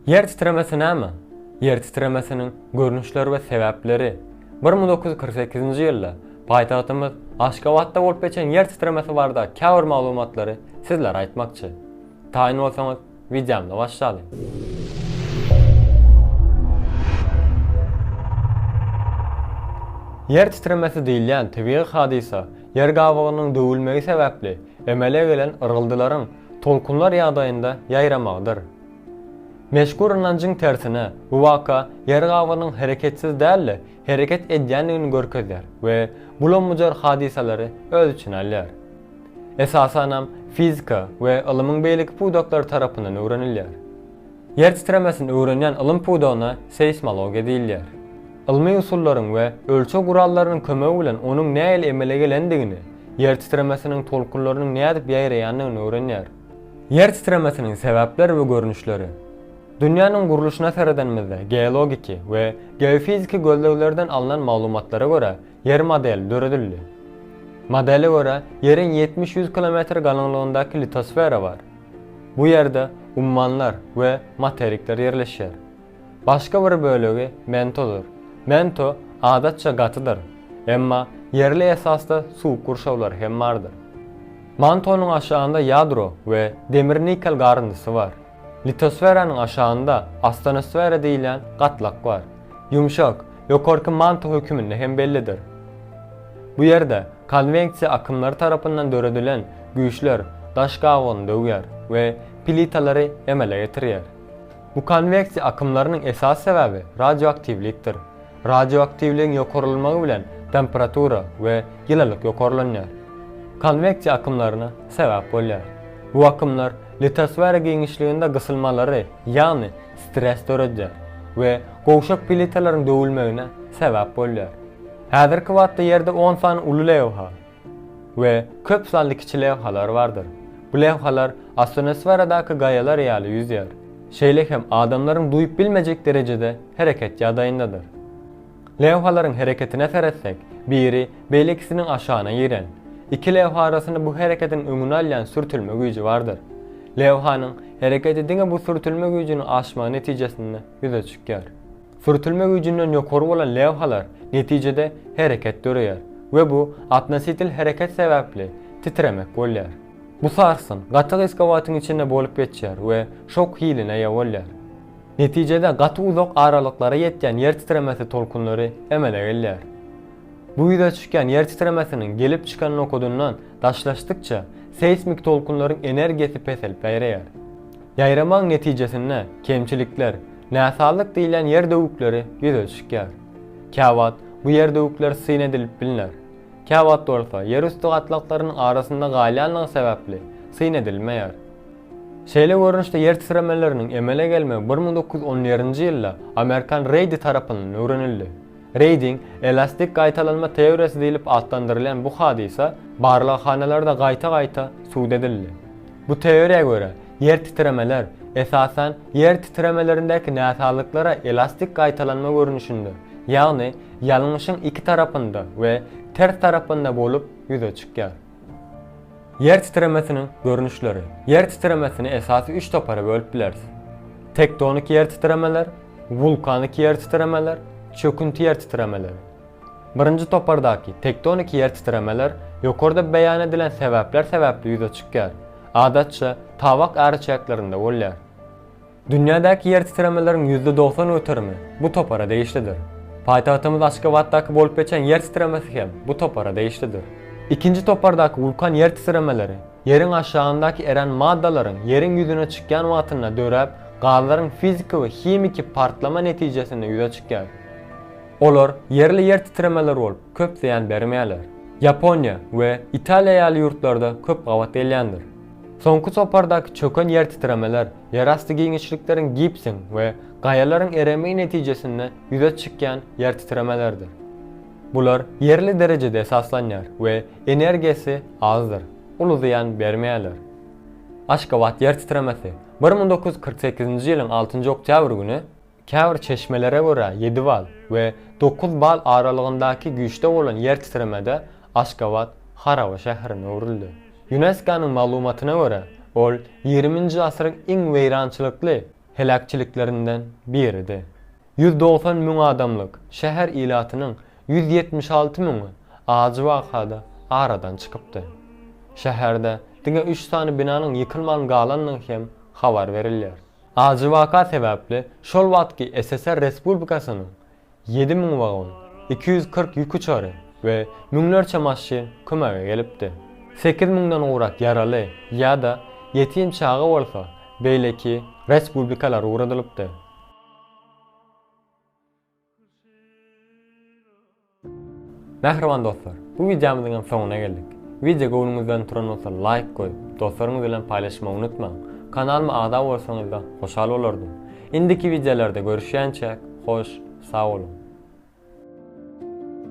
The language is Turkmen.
Ýer titremesi näme? Ýer titremesiniň görnüşleri we sebäpleri. Bir müň dokuz ýüz kyrk sekizinji ýylda paýtagtymyz Aşgabatda bolup geçen ýer titremesi barada käbir maglumatlary sizlere aýtmakçy. Taýyn bolsaňyz, wideomyzy başlalyň. Ýer titremesi diýilýän tebigy hadysa ýer gabygynyň döwülmegi sebäpli emele gelen yrgyldylaryň tolkunlar ýagdaýynda ýaýramagydyr. Meşhur ynanjyň tersine, bu waka ýer gabygynyň hereketsiz däl-de, hereket edýändigini görkezýär we bulam-bujar hadysalary öz içine alýar. Esasanam fizika we ylymyň beýleki pudaklary tarapyndan öwrenilýär. Ýer titremesini öwrenýän ylym pudagyna seýsmologiýa diýilýär. Ylmy usullaryň we ölçeg gurallarynyň kömegi bilen onuň nähili emele gelendigini, ýer titremesiniň tolkunlarynyň nädip ýaýraýandygyny öwrenýär. Ýer titremesiniň sebäpleri we görnüşleri. Dünýäniň gurluşyna seredenimizde geologiki we geofiziki gözleglerden alnan maglumatlara görä ýer modeli döredildi. Modele görä ýeriň ýetmiş-ýüz kilometr galyňlygyndaky litosfera bar. Bu ýerde ummanlar we materikler ýerleşýär. Başga bir bölegi mentodyr. Mento adatça gatydyr, emma ýerli esasda suwuk gurşawlary hem bardyr. Mantonyň aşagynda ýadro we demir-nikel garyndysy bar. Litosferanyň aşagynda astenosfera diýilýän gatlak bar. Ýumşak, Ýokarky Manto höküminde hem bellidir. Bu ýerde konweksiýa akymlary tarapyndan döredilen güýçler daş gabygyny döwýär we plitalary emele getirýär. Bu konweksiýa akymlarynyň esasy sebäbi radioaktiwlikdir. Radioaktiwligiň ýokarlanmagy bilen temperatura we ýylylyk ýokarlanýar. Konweksiýa akymlaryna sebäp bolýar. Bu akymlar litosfera giňişliginde gysylmalary, ýagny stres döredýär we gowşak plitalaryň döwülmegine sebäp bolýar. Häzirki wagtda Ýerde on sany uly lewha we köp sanly kiçi lewhalar bardyr. Bu lewhalar astonosferadaky gaýalar ýaly ýüzýär, şeýle hem adamlaryň duýup bilmejek derejede hereket ýagdaýyndadyr. Lewhalaryň hereketine seretsek, biri beýlekisiniň aşagyna giren. Iki lewha arasynda bu hereketiň öňüni alýan sürtülme güýji bardyr. Lewhanyň hereketi diňe bu sürtülme güýjüniň aşmagy netijesinde ýüze çykýar. Sürtülme güýjünden ýokary bolan lewhalar netijede hereket döreýär we bu atnositel hereket sebäpli titremek bolýar. Bu sarsgyn gaty gysga wagtyň içinde bolup geçýär we şok hiline eýe bolýar. Netijede gaty uzak aralyklara ýetýän ýer titremesi tolkunlary emele gelýär. Bu ýüze çykýan ýer titremesiniň gelip çykan nokadyndan daşlaşdykça seýsmik tolkunlaryň energiýasy peselip-bäýreýär. Ýaýramagyň netijesinde kemçilikler, näsazlyk diýlen ýer döwükleri ýüze çykýar. Käwagt bu ýer döwükler syn edilip bilner. Käwagt bolsa ýerüsti gatlaklarynyň arasynda galýanlygy sebäpli syn edilmeýär. Şeýle görnüşde ýer titremeleriniň emele gelmegi bir müň dokuz ýüz on ýerinji ýylda Amerikan Reýdi tarapyndan öwrenildi. Reýding, elastik gaýtalanma teoriýasy diýlip atlandyrylýan bu hadysa barlaghanalarda gaýta-gaýta subut edildi. Bu teoriýa görä, ýer titremeler, esasan, ýer titremelerindäki näsazlyklara elastik gaýtalanma görnüşinde, ýagny ýalňyşyň iki tarapynda we ters tarapynda bolup ýüze çykýar. Ýer titremesiniň görnüşleri. Ýer titremesini esasy üç topara bölüp bileris. Tektonik ýer titremeler, wulkanik ýer titremeler, çökünti ýer titremeleri. Birinji topardaky tektonik ýer titremeler ýokarda beýan edilen sebäpler sebäpli ýüze çykýar, adatça, tabak äriçäklerinde bolýar. Dünýädäki ýertitremeleriň ýüzde dogsan göterimi bu topara degişlidir. Paýtagtymyz Aşgabatdaky bolup geçen ýer titremesi hem bu topara degişlidir. Ikinji topardaky wulkan ýertitremeleri ýeriň aşagyndaky erän maddalaryň ýeriň ýüzüne çykýan wagtynda döräp, gazlaryň fiziki we himiki partlama netijesinde ýüze çykýar. Olar ýerli ýertitremeler bolup, köp zyýan bermeýärler. Ýaponiýa we Italiýa ýaly ýurtlarda köp gabat gelýändir. Soňky topardaky çöken ýertitremeler Ýerasty giňişlikleriň gipsiň we gaýalaryň eremegi netijesinde ýüze çykýan ýertitremelerdir. Bular ýerli derejede esaslanýar we energiýasy azdyr, uly zyýan bermeýärler. Aşgabat ýertitremesi bir müň dokuz ýüz kyrk sekizinji ýylyň altynjy oktýabr güni, Käbir çeşmelere görä ýedi bal we dokuz bal aralygyndaky güýçde bolan ýer titremede Aşgabat haraba şäherine öwrüldi. Ýunesko-nyň maglumatyna görä, ol ýigriminji asyryň iň weýrançylykly heläkçiliklerinden biridi. Ýüz dogsan müň adamlyk şäher ilatynyň ýüz ýetmiş alty müňi ajy wakada aradan çykypdy. Şäherde diňe üç sany binanyň ýykylman galandygy hem habar berilýär. Ajy waka sebäpli şol wagtky SSR respublikasynyň ýedi müň wagon, iki ýüz kyrk ýük uçary we müňlerçe maşyn kömege gelipdi. Sekiz müňden gowrak ýaraly ýa-da ýetim çaga bolsa beýleki respublikalara ugradylypdy. Mähriban dostlar, bu wideomyzyň hem soňuna geldik. Wideo göwnüňizden turan bolsa laýk goýup, dostlaryňyz bilen paýlaşmagy unutmaň. Kanalyma agza bolsaňyzda hoşal bolardym. Indiki wideolarda görüşýänçäk, hoş, sag boluň!